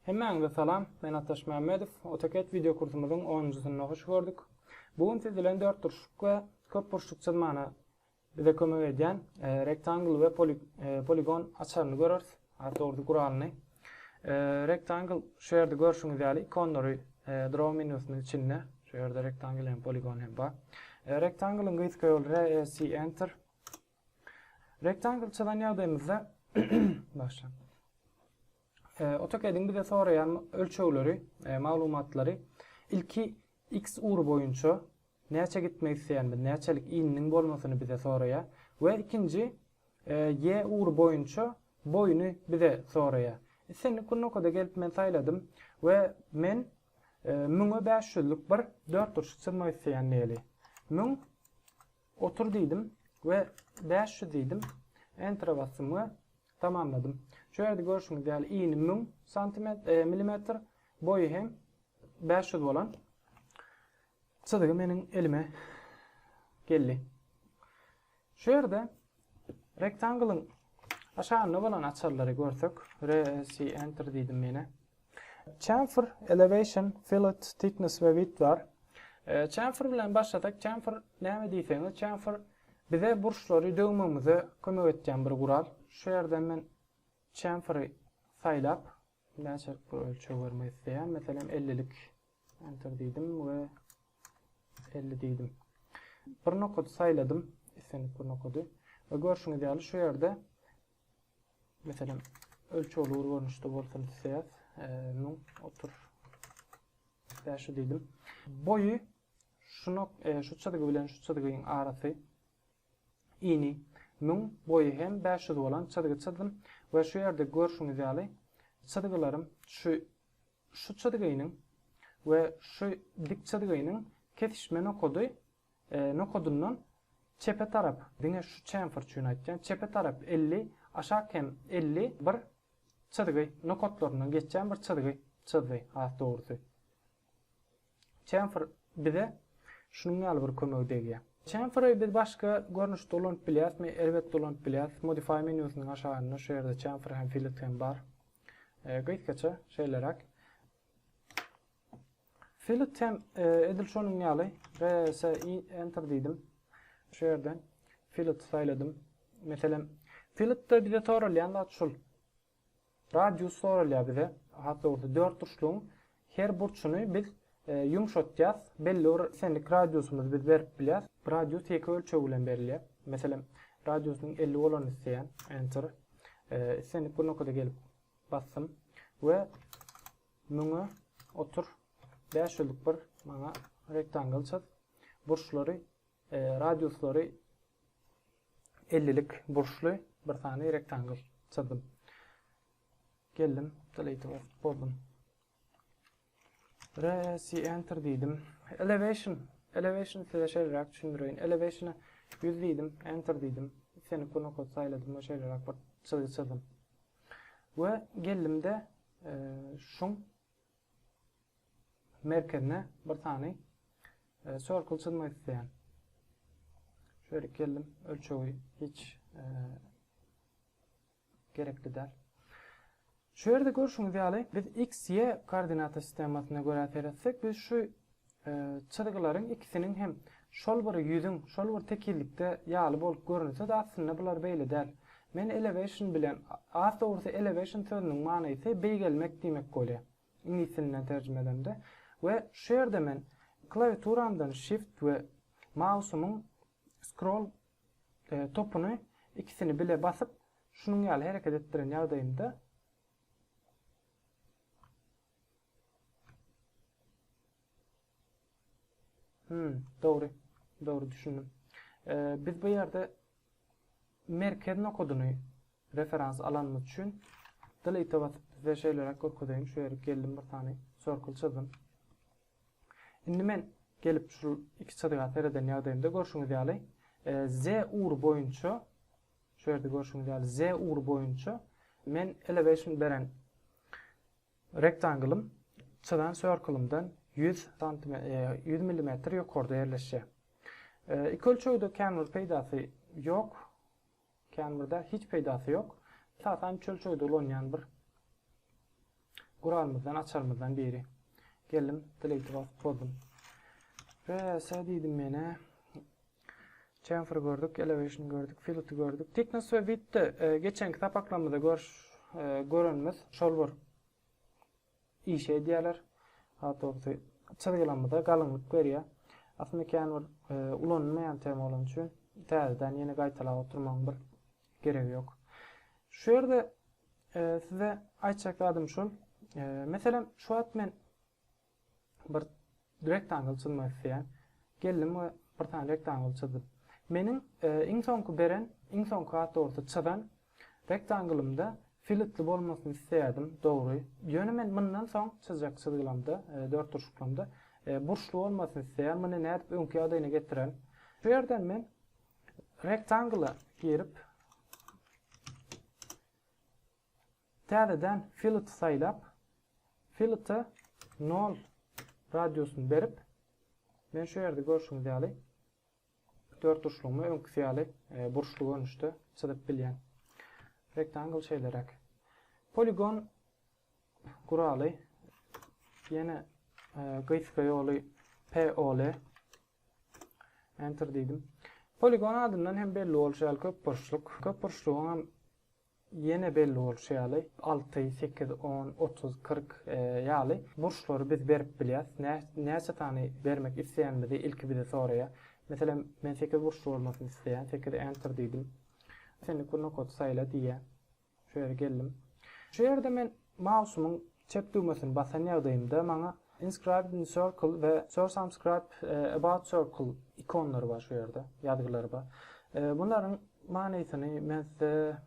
Hemmäňize salam, men Ataş Mämmedow. AutoCAD wideo kursumyzyň onunjysyna hoş gördük. Bu gün siz bilen dörtburçluk we köpburçluk çyzmana bize kömek edýän Rectangle we Polygon açaryny göreris, has dogrusy guralyny. Rectangle şu ýerde görşüňiz ýaly ikonlary Draw menusynyň içinde, şu ýerde Rectangle hem Polygon hem bar. Rectangle-yň gysga ýoly REC Enter. Rectangle çyzan ýagdaýymyzda başlan. AutoCAD-iň bize soraýan ölçegleri, e, maglumatlary ilki x ugry boýunça näçe gitmek isleýänimiz, näçelik ininiň bolmasyny bize soraýar we ikinji e, y ugry boýunça boýuny bize soraýar. Islendik günokada gelip men saýladym we men e, müňe bäş ýüzlük bir dörtburçly çyzmak isleýän diýeli. Müň Otur diýdim we bäş ýüz diýdim. Entere basdym we tamamladym. Şu ýerde görşüňiz ýaly ini müň milimetr, boýy hem bäş ýüz bolan çyzgy meniň elime geldi. Şu ýerde rektangylyň aşagynda bolan açarlary görsek, RSI Enter diýdim ýene. Chamfer, elevation, fillet, thickness we width bar. Chamfer bilen başlasak, chamfer näme diýseňiz, chamfer bize burçlary döwmegimize kömek etýän bir gural. Şu ýerden men chamferi saýlap, näçelik bir ölçeg bermek isleýän, meselem 50 lik enter diýdim we 50 diýdim. Bir nokady saýladym, islendik bir nokady. Görşüňiz ýaly şu ýerde Meselem, ölçegli ugur görnüşde bolsun isleýäs. 1000 otur. Bäşi diýdim. Boýy şu nok e, şu çyzgy bilen şu çyzgyň arasy ini 1000 boýy hem 500 bolan çyzgy çyzdym we şu ýerde görşüňiz ýaly çyzgylarym şu şu çyzgynyň we şu dik çyzgynyň kesişme nokady E nokadyndan çepe tarap, diňe şu çemfer üçin aýtýan, çepe tarap elli, aşak hem elli bir çyzgy, nokatlaryndan geçýän bir çyzgy çyzdy, has dogrusy. Çemfer bize şunuň ýaly bir kömegi degýär. Çemferi biz başga görnüşde ulanyp bilýärismi? Elbetde ulanyp bilýäris. Modify menýusynyň aşagynda şu ýerde çemfer hem filet hem bar. E gysgaça şeýleräk. Fill tem edil şonuň ýaly. RS enter diýdim. Şu ýerden fill saýladym. Meselem, fillde bize soralýan zat şul. Radius soralýar bize. Hat dogry dört burçlugyň her burçuny biz e, ýumşatýas. Belli bir senlik radiusymyzy biz berip bilýäs. Radius ýeke ölçeg bilen berilýär. Meselem, radiusynyň 50 bolany isleýän enter. E, senlik bir nokada gelip Basdym we müňe otur bäş ýüzlük bir maňa rektangl çyz. Burçlary, radiuslary ellilik burçly bir sany rektangl çyzdym. Geldim, delete bozdum. Resi enter diýdim. Elevation. Elevation size şeýleräk düşündireýin. Elevationa 100 diýdim, enter diýdim. Seni kunokot saýladym we şeýleräk bir çyzgy çyzdym. We geldimde e, şuň merkezine bir sany e, circle çyzmak isleýän. Şöyle geldim, ölçegi hiç e, gerekli däl. Şu ýerde görşüňiz ýaly, biz x, y koordinata sistemasyna görä seretsek, biz şu çyzgylaryň ikisiniň hem şol bir ýüzüň, şol bir tekizlikde ýaly bolup görünse-de, aslynda bular beýle däl. Men elevation bilen, has dogrusy elevation sözüniň manysy beýgelmek diýmek bolýar, iňlis dilinden terjime edemde. We şu ýerde men klawiaturamdan shift we mausumyň scroll Topuny ikisini bile basyp, şunuň ýaly hereket etdiren ýagdaýymda, Hum, dogry. Dogry düşündim. Biz bu ýerde merkez nokadyny referans alanymyz üçin delete basyp, size şeýleräk görkezeýin. Şu ýere geldim bir sany circle çyzdym. Indi men gelip şul iki çyzyga sereden ýagdaýymda görşüňiz ýaly Z ugry boýunça şu ýerde görşüňiz ýaly Z ugry boýunça men elevation beren rektanglym çyzan circlymdan 100 santim 100 millimetr ýokarda ýerleşýär. Iki ölçegde känbir peýdasy ýok. Kän birde hiç peýdasy ýok. Esasan çöl-çöýde ulanýan bir guralymyzdan, açarymyzdan biri. Geldim, delete basyp bozdum. PS diýdim menä. Chamfer gördük, elevation gördük, fillet gördük. Thickness we width-de geçenki sapaklarymyzda görüş e, görenimiz şol bir işi edýärler. Has dogrusy, çyzgylamyza galyňlyk berýär. Aslynda kän bir ulanylmaýan tema bolany üçin täzeden ýene gaýtalap oturmagyň bir geregi ýok. Şu ýerde size aýtjak zadym şul, meselem, şu wagt men bir Rektangl çyzmak isleýän. Geldim we bir sany rektangl çyzdym. Meniň iň soňky beren, iň soňky has dogrusy çyzan rektanglymda filetli bolmasyny isleýärdim, dogry. Ýöne men mundan soň çyzjak çyzgylamda, dörtburçlyklamda burçly bolmasyny isleýän. Muny nädip öňki ýagdaýyna getiren? Şu ýerden men rektangla girip, Täzeden filet saýlap, filete nol radiusyny berip, men şu ýerde görşüňiz ýaly dörtburçlugymy öňküsi ýaly burçly görnüşde çyzyp bilýän. Rektangl şeýleräk. Poligon guraly ýene gysga ýoly POL Enter diýdim. Poligon adyndan hem belli bolşy ýaly köp burçluk. Köp burçlugyň hem Ýene belli bolşy ýaly, alty, sekiz, on, otuz, kyrk ýaly burçlary biz berip bilýäs. Nä, näçe sany bermek isleýänimizi ilki bize soraýar. Meselem, men sekiz burçly bolmasyny isleýän, sekiz Enter diýdim. Senlik bir nokady saýla diýýär. Şu ýere geldim. Şu ýerde men mausumyň Çep düwmesini basan ýagdaýymda maňa Inscribed in Circle we Source Unscribed About Circle ikonlary bar şu ýerde, ýazgylary bar. Bularyň manysyny men size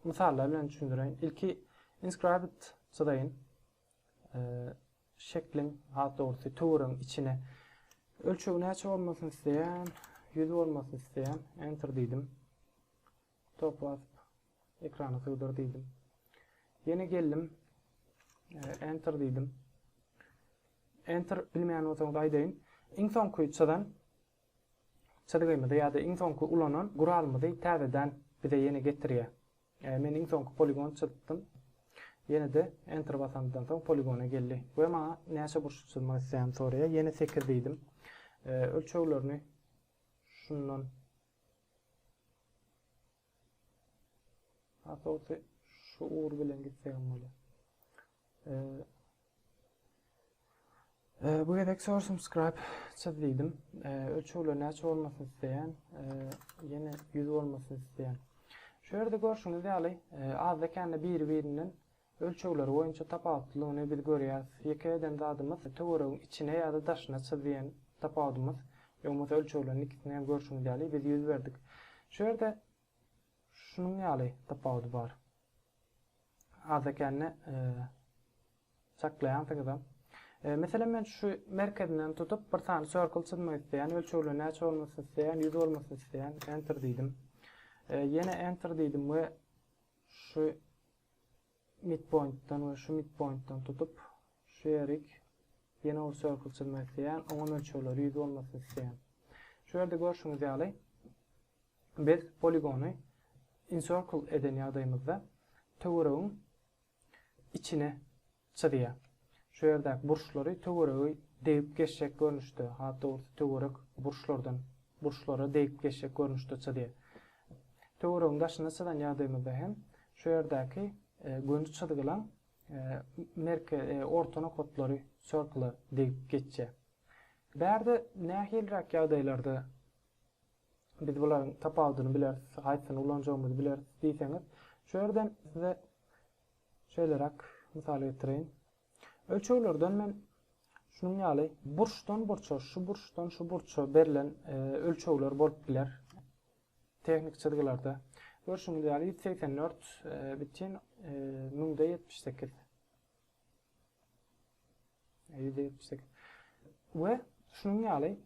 mysallar bilen düşündireýin. Ilki Inscribed çyzaýyn. Şekliň, has dogrusy, töweregiň içine ölçegi näçe bolmasyny isleýän, 100 bolmasyny isleýän, Enter diýdim. Stop basyp, ekrana sygdyr diýdim. Ýene geldim. Enter diýdim. Enter bilmeýän bolsaňyz aýdaýyn. Iň soňky çyzan çyzgymyzy ýa-da iň soňky ulanan guralymyzy täzeden bize ýene getirýär. E, men iň soňky poligon çyzdym. Ýene-de enter basandan soň poligona geldi we maňa näçe burçluk çyzmak isleýän soraýar. Ýene 8 diýdim. E, ölçeglerini şundan Asawusy şu ugur bilen gitsegim bolýar. Ee, ee, bu gezek sor subscribe çyz diýdim. Ee, ölçegler näçe bolmasyny isleýän, ee, ýene 100 bolmasyny isleýän. Şu ýerde görşüňiz ýaly, ee, azda kände biri-birinden Ölçegleri boýunça tapawutlylygyny biz görýäris. Ýeke eden zadymyz töweregiň içine ýa-da daşyna çyz diýen tapawudymyz. Ýa bolmasa ölçegleriň ikisini hem görşüňiz ýaly biz ýüz berdik. Şu ýerde şunuň ýaly tapawudy bar. Azda-kände çaklaýansyňyzam. Meselem men şu merkezinden tutup bir sany circle çyzmak isleýän, ölçegleri näçe bolmasyn isleýän, ýüz bolmasyn isleýän, enter diýdim. Ýene enter diýdim we şu Midpointdan we şu midpointdan tutup, şu ýerik ýene ol circle çyzmak isleýän, oňa mölçerleri ýüz bolmasyn isleýän. Şu ýerde görşüňiz ýaly, biz poligony incircle eden ýagdaýymyzda töweregiň içine Çyzýar. Şu ýerdäki burçlary töweregi degip geçjek görnüşde, has dogrusy töwerek burçlardan burçlara degip geçjek görnüşde çyzýar. Töweregiň daşyny çyzan ýagdaýymyzda hem şu ýerdäki göni çyzgylaň merke orta nokatlary circle-a degip geçýär. Bärde nähiliräk ýagdaýlarda biz bularyň tapawudyny bileris, haýsyny ulanjagymyzy bileris diýseňiz, şu ýerden size Şeýleräk mysal getireýin. Ölçeglerden men şunuň ýaly burçdan burça, şu burçdan şu burça berlen ölçegler bolup biler. Tehnik çyzgylarda. Görşüňiz ýaly 184 bütin müňde 78. 178. We şunuň ýaly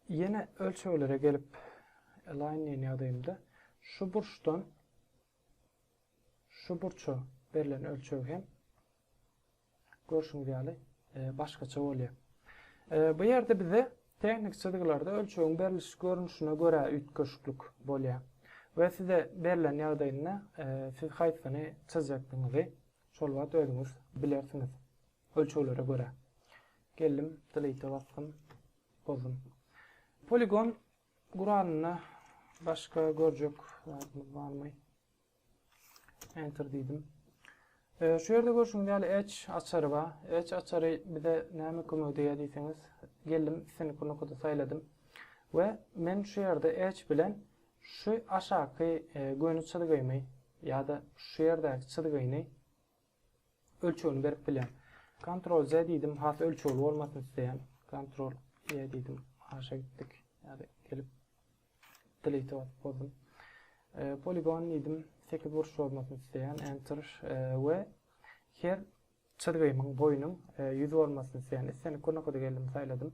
Ýene ölçeglere gelip align diýen ýagdaýymda şu burçdan şu burça berlen ölçeg hem görşüňiz ýaly e, başgaça bolýar. E, bu ýerde bize tehnik çyzgylarda ölçegiň beriliş görnüşine görä üýtgeşiklik bolýar. We size berlen ýagdaýynda e, siz haýsyny çyzjakdygyňyzy şol wagt özüňiz bilersiňiz. Ölçeglere görä. Geldim, Delete-e basdym, bozdum. Poligon guralynda başga görjek zadymyz barmy? Enter diýdim. E, şu ýerde görşüňiz ýaly edge açary bar. Edge açary bize näme kömek edýär diýseňiz, geldim, seni kurnukada saýladym. We men şu ýerde edge bilen şu aşaky e, göni çyzgymy ýa-da şu ýerdäki çyzgyny Ölçegini berip bilýän. Ctrl Z diýdim, has ölçegli bolmasyn isleýän. Ctrl Y diýdim, aşa gitdik. Ýa-da gelip delete basyp bozdum. E, poligon diýdim, 8 burç bolmasyn isleýän, enter e, we her çyzgymyň boýunyň e, 100 bolmasyn isleýän. Islenik görnükde geldim, saýladym.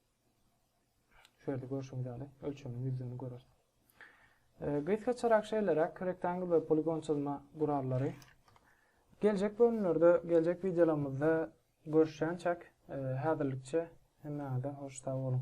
Şu ýerde görşüňiz ýaly ölçemiň ýüzlerini göreris. Gysgaçarak şeýleräk rektangl we poligon çyzma gurallary. Geljek bölümlerde, geljek wideolarymyzda görüşýänçäk, e, häzirlikçe hemmäňize hoş sag boluň.